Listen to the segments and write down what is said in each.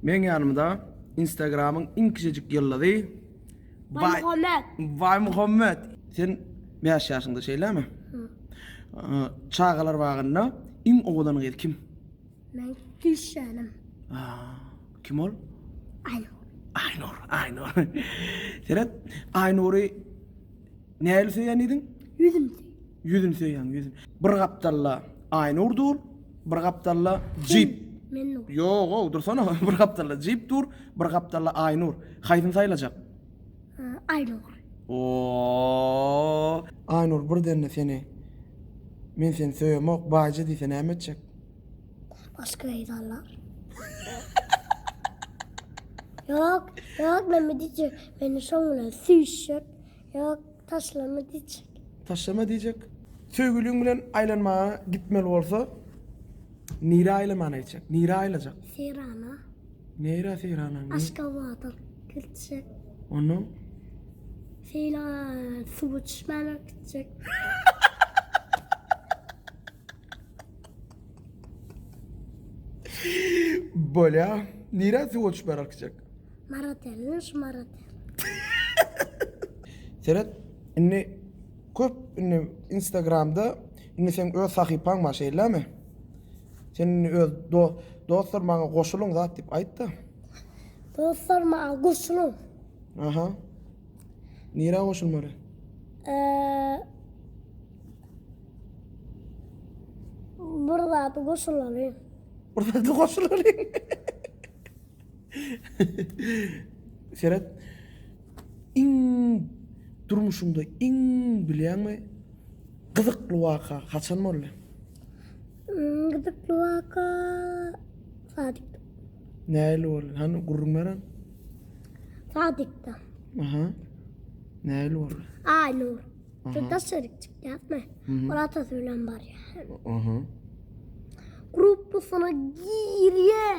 Meň ýanymda instagramyň iň kiçijik ýyldyzy Baýmuhammet. Baýmuhammet. Sen bäş ýaşyňda şeýlemi? Çagalar bagynda iň owadan gyz kim? Meň düşşanym. Kim ol? Aýnur. Aýnur, Aýnur. Seret, Aýnury Nähili söýýän diýdiň? Ýüzüni söýýän. Ýüzüni söýýän, ýüzün. Bir gapdalda Aýnur dur, bir gapdalda Jip. Men dur. Ýog-ow, dursana. Bir gapdalda Jip dur, bir gapdalda Aýnur. Haýsyny saýlajak? Aýnur. Ooo! Aýnur birden-de seni Men seni söýemok, baýja diýse näme etjek? Başga gyz alar. Ýok, ýok, näme diýjek? Meni şoň bilen süýşjek. Ýok, taşlama diýjek. Taşlama diýjek. Söýgüliň bilen aýlanmaga gitmeli bolsa, nirä aýlamana gitjek? Nirä aýlajak? Serana. Neýra Serana? Aşgabada gitjek. Ondan? Seýle suwa düşmäne gitjek. Bolýa. Nirä suwa düşmäne gitjek? Maratelin şu maratel. Seret indi köp indi instagramda indi seň öz sahypaň bar şeýlemi? Sen indi öz dostlar maňa goşulyň zat diýip aýtda. Dostlar maňa goşulyň. Aha. Nirä goşulmaly? Eee Bir zat goşulalyň. Bir zat goşulalyň. Seret. Iň durmuşyňda iň bilýäňmi gyzykly waka haçan boldy? Hmm, Gyzykly waka Sadikde. Nähili boldy? Hany gürrüň beren? Sadikde. Aha. Nähili boldy? Aynur. Şurada şerik çıktı yapma. Onun atası bilen var ya. Aha. Gruplusuna giriyor.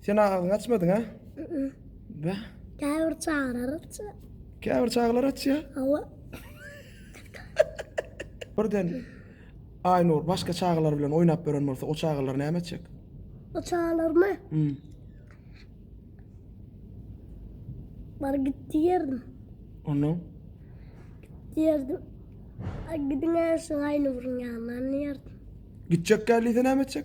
Sen agyň açmadyň ha? Bä. Käbir çagalar açýar. Käbir çagalar açýar. Hawa. Birden Aynur başka çagalar bilen oynap gören bolsa o çagalar näme etjek? O çagalar mı? Hmm. Bar gitti yerdim. Onu? Yerdim. Gidin şu aynı vurun yanına yerdim. Gidecek geldi ise näme etjek?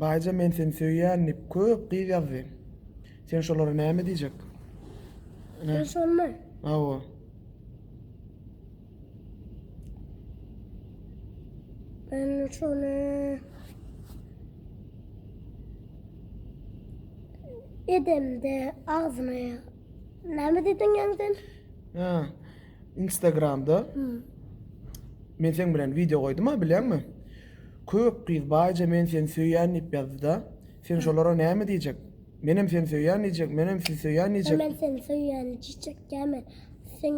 Baýja men seni söýýän diýip köp gyz ýazdy. Sen şolara näme diýjek? Sen şonmy? Hawa. Ben şony edemde agzyna näme diýdiň ýaňy sen? Ha. Instagramda men seň bilen wideo goýdum-a bilýäňmi? Köp gyz baýja men seni söýýän diýip ýazdy-da. Sen şolara näme diýjek? Menem seni söýýän diýjek, menem sizi söýýän diýjek. Men seni söýýän diýjek däme. Sen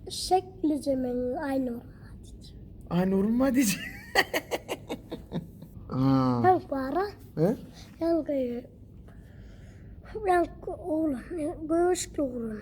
şeklije meň Aýnuruma diýjek. Aýnuruma diýjek. Ýaňky bar-a. He? Ýaňky. Ýaňky oglan, göwüşli oglan.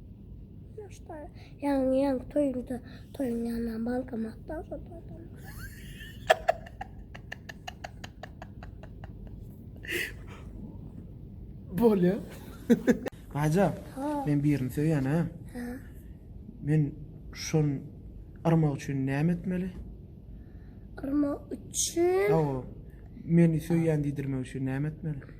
Ýaşlar ýaňy ýaňy toýunda toýuň ýanyndan bankomat da uzadadym. Bolýa. Aja, men birini söýýän ha. Men şon yrmak üçin näme etmeli? Yrmak üçin? Hawa. Meni söýýän diýdirmek üçin näme etmeli?